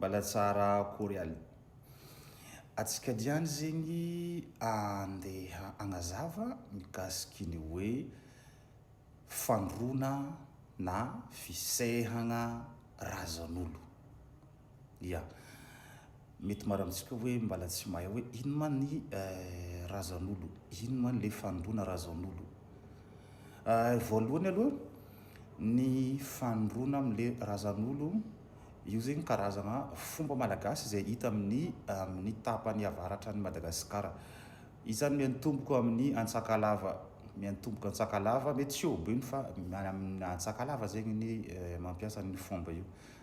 Mbala tsara akory alo. Atsika diany zegny andeha agnazava mikasiky ny hoe fandroana na fisehagna razan'olo. Ya. Mety maro amintsika hoe mbala tsy mahay hoe ino ma ny razan'olo, ino ma le fandroana razan'olo. Voalohany aloha, ny fandroana amle razan'olo, io zegny karazagna fomba malagasy izay hita amin'ny amin'ny tapany avaratra an'i Madagasikara. Izy zany miantomboko amin'ny Antsakalava, miantomboko Antsakalava, mety tsy eo Beny fa miala amin'ny Antsakalava zegny ny mampiasa an'io fomba io.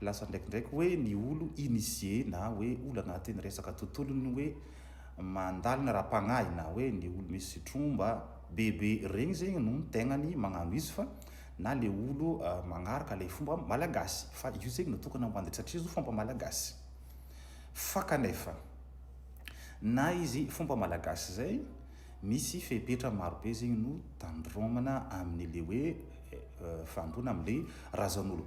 Lasa ndraikindraiky hoe ny olo initié na hoe olo anatin'ny resaka tontolon'ny hoe mandalina ara-pagnahy na hoe ny olo misy tromba be be regny zegny no tegnany magnano izy fa na le olo magnaraka le fomba malagasy fa io zegny no tokony amboandy satria izy io fomba malagasy fa kanefa na izy fomba malagasy zay misy fepetra maro be zegny no tandromana amin'ny le hoe fandroana amin'ny le razan'olo.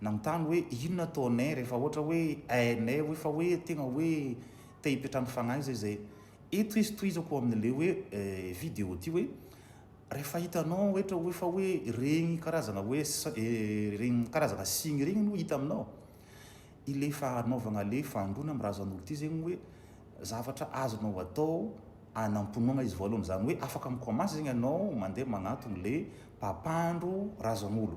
Nanontany hoe inona ataonay rehefa ohatra hoe hainay hoe fa hoe tegna hoe te hipetrahan'ny fagnahy zay zay. Eto izy tohizako ao amin'ny le hoe video ty hoe rehefa hitanao ohatra hoe fa hoe regny karazagna hoe regny karazagna signe regny no hita aminao i le fagnanovagna le fahandroana amin'ny razan'olo ty zegny hoe zavatra azonao atao hanamponoagna izy voalohany zany hoe afaka mi commence zegny anao mandeha magnatogno le mpampandro razan'olo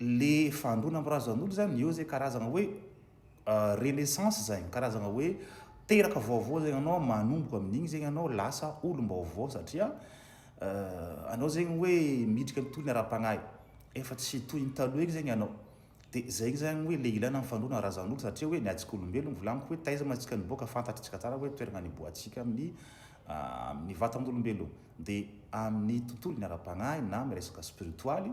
le fandroana am razanolo zany eo zay karazana hoe renaissance zay karazana hoe teraka vaovao zay anao manomboka amin'igny zegny anao lasa olom-baovao satria anao zegny hoe miditra am tohiny ara-pagnahy efa tsy toy ny taloha igny zegny anao de zegny zany hoe le ilana ny fandroana razanolo satria hoe ny atsika olombelogno volagniko hoe taiza ma tsika niboaka fantatritsika tsara hoe toerana niboahantsika amin'ny amin'ny vatan'olombelogno de amin'ny tontolony ara-pagnahy na miresaka spiritoaly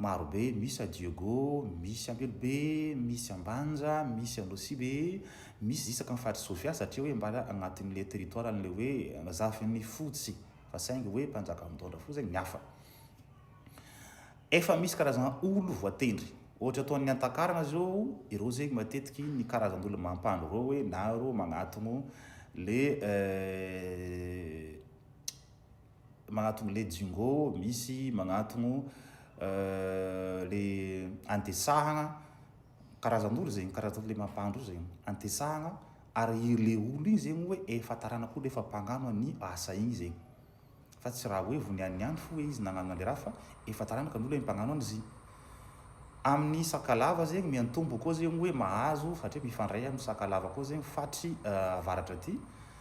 Maro be, misy à Dieugo, misy Ampelobe, misy Ambanja, misy Anosibe, misy isaky ny faritry Sofia satria hoe mba agnatin'ilay territoire an'ilay hoe zafin'ny fotsy fa saingy hoe mpanjaka mitondra fo zay ny hafa. Efa misy karazana olo voatendry. Ohatra ataon'ny Antakarana zao, ireo zegny matetiky ny karazan'olo mampandro ireo hoe na ireo magnatogno le. magnatogno le jingo misy magnatogno le antesahagna karazan'olo zegny karazan'olo le mampandro zegny antesahagna ary i le olo igny zegny hoe efa taranak'olo hoe efa mpagnano an'i asa igny zegny fa tsy raha hoe vao niany niany fo hoe izy nagnano an'le raha fa efa taranaka ny olo hoe mpagnano an'izy amin'ny sakalava zegny miantombo koa zegny hoe mahazo satria mifandray amin'ny sakalava koa zegny fatry avaratra aty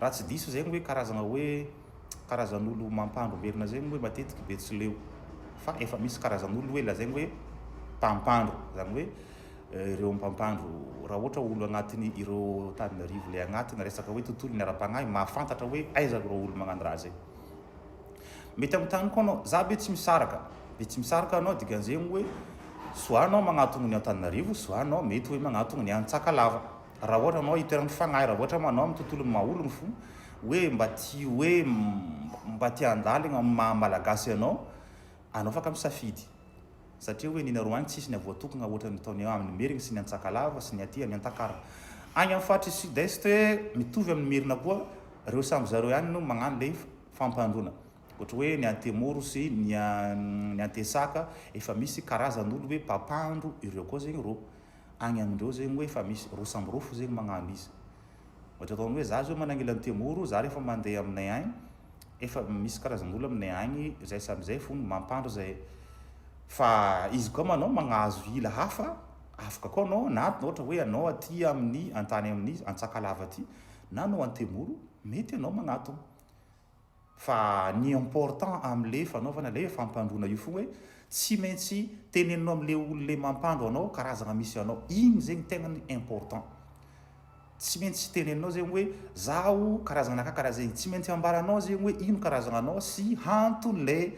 Raha tsy diso zegny hoe karazagna hoe karazan'olo mampandro velona zegny hoe matetiky betsileo fa efa misy karazan'olo hoe lazaigny hoe mpampandro zany hoe ireo mpampandro raha ohatra olo agnatiny ireo taninarivo le agnatina resaka hoe tontolony ara-pagnahy mahafantatra hoe aiza ireo olo magnano raha zay mety amitany koa anao za be tsy misaraka be tsy misaraka anao dikan'zegny hoe soit anao magnatogno ny antananarivo soit anao mety hoe magnatogno ny any tsakalava Raha ohatra anao hitoeran'ny fagnahy, raha ohatra manao amin'ny tontolon'ny maha ologny fo, hoe mba tia hoe mba tia handalo eo amin'ny maha malagasy anao, anao afaka misafidy. Satria hoe ny nareo agny tsisy ny avoatokogna ohatra ny ataony amin'ny merigny sy ny antsakalava sy ny aty amin'ny antakara. Agny amin'ny faritry sud est mitovy amin'ny merina koa reo samby zareo ihany no magnano le fampandroana. Ohatra hoe ny antemoro sy ny antesaka efa misy karazan'olo hoe mpampandro ireo koa zegny rô. Agny amindreo zegny hoe efa misy roa samby roa fo zegny magnano izy. Ohatra ataony hoe za zao manangila ny Temoro, za rehefa mande aminay agny, efa misy karazan'olo aminay agny zay samby zay fo mampandro zay. Fa izy koa manao magnahazo ila hafa, afaka koa anao na ohatra hoe anao aty amin'ny antany amin'ny Antsakalava aty na anao an-Temoro, mety anao magnatogno. Fa ny important amle fanaovana le fampandroana io fo hoe tsy maintsy teneninao amle olo le mampandro anao karazagna misy anao igny zegny tegna ny important tsy maintsy teneninao zegny hoe zaho karazagna anakahy karaha zegny tsy maintsy ambaranao zegny hoe ino karazagna anao sy hantony le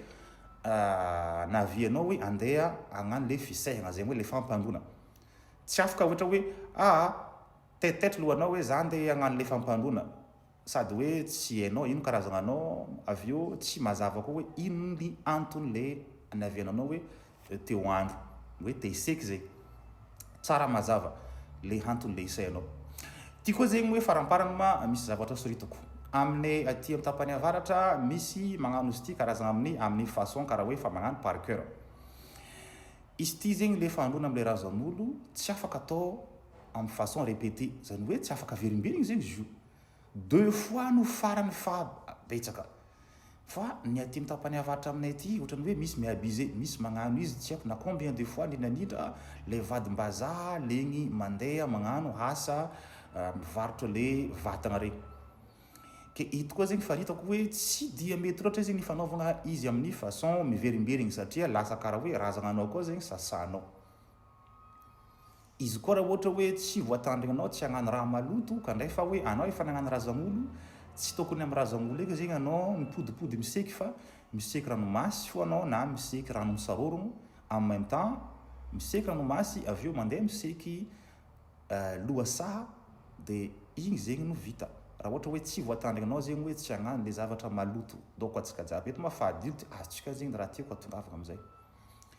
nahavianao hoe andeha agnano le fisehagna zegny hoe le fampandroana tsy afaka ohatra hoe aa taitaitra lohanao hoe za andeha agnano le fampandroana sady hoe tsy hainao ino karazagna anao avy eo tsy mazava koa hoe ino ny antony le aniaviananao hoe te ho andro hoe te hiseky zay tsara mazava le hantony le isaianao ty koa zegny hoe faramparany ma misy zavatra soritako amine aty am tapany avaratra misy magnano izy ty karazagna aminy aminy façon kara hoe fa magnano par coeur izy ty zegny le fahandrona amle razanolo tsy afaka atao amin'ny façon repete zany hoe tsy afaka averimberina izy izy io deux fois no farany faha betsaka fa ny aty amin'ny tapany avaritra aminay aty ohatran'ny hoe misy mi abuse misy magnano izy tsy haiko na combien de fois ny nanitra lay vadim-bazaha legny mandeha magnano asa mivarotra le vatagna regny ke ito koa zegny fa hitako hoe tsy dia mety loatra izy ny fanaovagna izy amin'ny façon miverimberigny satria lasa karaha hoe razagna anao koa zegny sasanao Izy koa raha ohatra hoe tsy voatandrina anao tsy hagnano raha maloto ka ndray fa hoe anao efa nagnano razanolo tsy tokony am razanolo eka zegny anao mipodipody miseky fa miseky ranomasy fô anao na miseky rano misarôrogno en même temps miseky ranomasy avy eo mandeha miseky lohasaha de igny zegny no vita raha ohatra hoe tsy voatandrigna anao zegny hoe tsy hagnano le zavatra maloto donc antsika jiaby eto ma fa adulte azontsika zegny raha tiako atongavagna amizay.